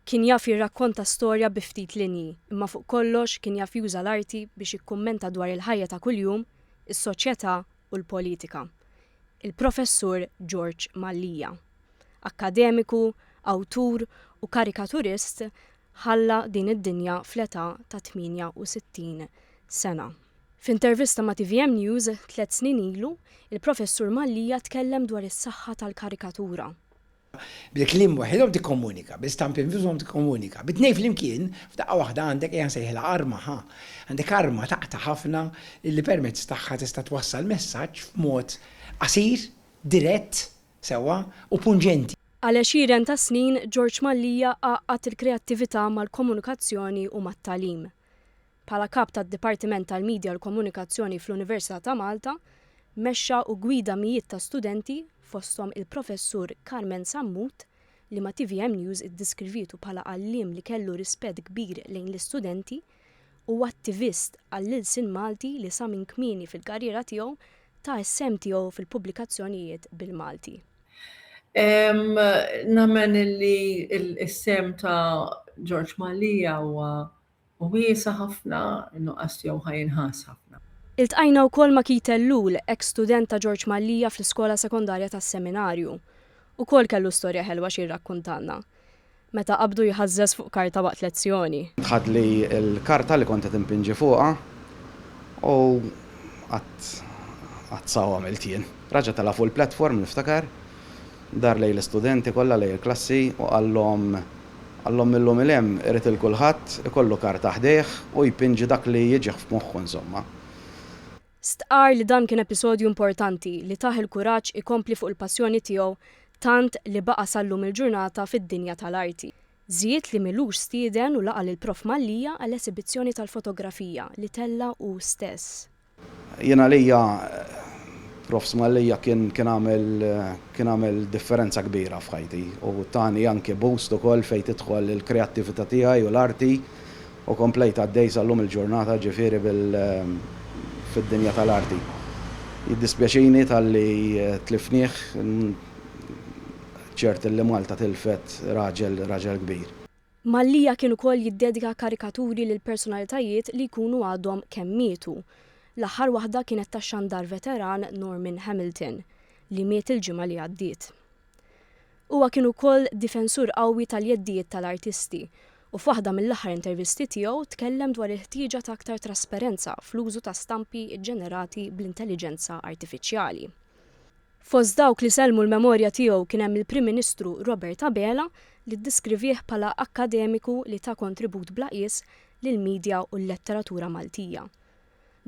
Kien jaf jirrakkonta storja bi ftit linji, imma fuq kollox kien jaf juża l-arti biex jikkummenta dwar il-ħajja ta' kuljum, is-soċjetà u l-politika. Il-Professur George Mallia. Akkademiku, awtur u karikaturist ħalla din id-dinja fl-età ta' 68 sena. F'intervista ma' tvm News tliet snin ilu, il-Professur Mallia tkellem dwar is-saħħa tal-karikatura. Bil-kliem waħidhom tikkomunika, bil-stampi nfushom tikkomunika, bit-tnejn flimkien, f'daqqa waħda għandek, ejja nsejħilha arma, ħa! Għandek arma taqta' ħafna li permezz tagħha tista' twassal messaġġ f'mod qasir, dirett, sewwa, u punġenti. Għal għexieren ta' snin, George Mallia għaqqad il-kreattività mal-komunikazzjoni u mat-tagħlim. Bħala Kap tad-Dipartiment tal-Midja u l-Komunikazzjoni fl-Università ta' Malta, mexxa u ggwida mijiet ta' studenti, fosthom il-Professur Carmen Sammut, li ma' tvm News iddiskrivietu bħala għalliem li kellu rispett kbir lejn l-istudenti u attivist għall-ilsien Malti li sa minn kmieni fil-karriera tiegħu ta s-sehem tiegħu fil-pubblikazzjonijiet bil-Malti. Nemmen illi s-sehem ta' George Mallia huwa Hu wiesa' ħafna, in-nuqqas tiegħu ħa jinħass ħafna. Iltqajna wkoll ma' Keith Ellul, eks student ta' Ġorġ Mallia fl-Iskola Sekondarja tas-Seminarju. Ukoll kellu storja ħelwa xi jirrakkuntalna. Meta qabdu jħażżeż fuq karta waqt lezzjoni. Tħadli l-karta li kont qed inpinġi fuqha u qatt qatt sa għamilt jien. Raġa' tela' fuq il-platform, niftakar, Dar lejn l-istudenti kollha, lejn il-klassi u qallhom, qallhom mil-lum 'il hemm irid 'il kulħadd ikollu karta ħdejh u jpinġi dak li jiġih f'moħħu insomma. Stqarr li dan kien episodju importanti li tah il-kuraġġ ikompli fuq il-passjoni tiegħu tant li baqa' sal-lum il-ġurnata fid-dinja tal-arti. Żied li m'ilux stieden u laqa' lill-Prof Mallia għal esibizzjoni tal-fotografija li tella' hu stess. Jien għalija Prof. Smallia kien kien għamel kien għamel differenza kbira f'ħajti u tani anke boost ukoll fejn tidħol il-kreattivita tiegħi u l-arti u komplejt għaddej sa llum il-ġurnata ġifieri bil fid-dinja tal-arti. Jiddispjaċini talli tlifnieh, ċert illi Malta tilfet raġel raġel kbir. Mallia kien ukoll jiddedika karikaturi lil personalitajiet li jkunu għadhom kemm mietu. L-aħħar waħda kienet tax-xandar veteran Norman Hamilton, li miet il-ġimgħa li għaddiet. Huwa kien ukoll difensur qawwi tal-jeddijiet tal-artisti u f'waħda mill-aħħar intervisti tiegħu tkellem dwar il-ħtieġa ta' aktar trasperenza fl-użu ta' stampi ġġenerati bl-intelliġenza artifiċjali. Fost dawk li sellmu l-memorja tiegħu kien hemm il-Prim Ministru Robert Abela li ddiskrivih bħala akkademiku li ta kontribut bla qies lill-midja u l-letteratura Maltija.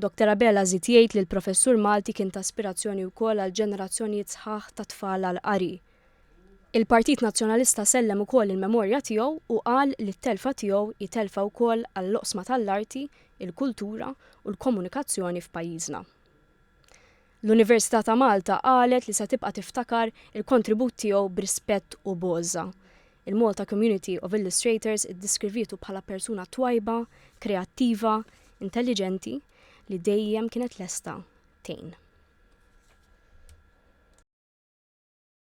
Doctor Abela żied jgħid li l-professur Malti kien ta aspirazzjoni wkoll għal ġenerazzjonijiet sħaħ ta' tfal għall-qari. Il-Partit Nazzjonalista sellem ukoll il-memorja tiegħu u qal li t-telfa tiegħu hi telfa wkoll għall-oqsma tal-arti, il-kultura u l-komunikazzjoni f'pajjiżna. L-Università ta' Malta qalet li se tibqa' tiftakar il-kontribut tiegħu b'rispett u b'għożża. Il-Malta Community of Illustrators iddiskrivietu bħala persuna twajba, kreattiva, intelliġenti li dejjem kienet lesta tgħin.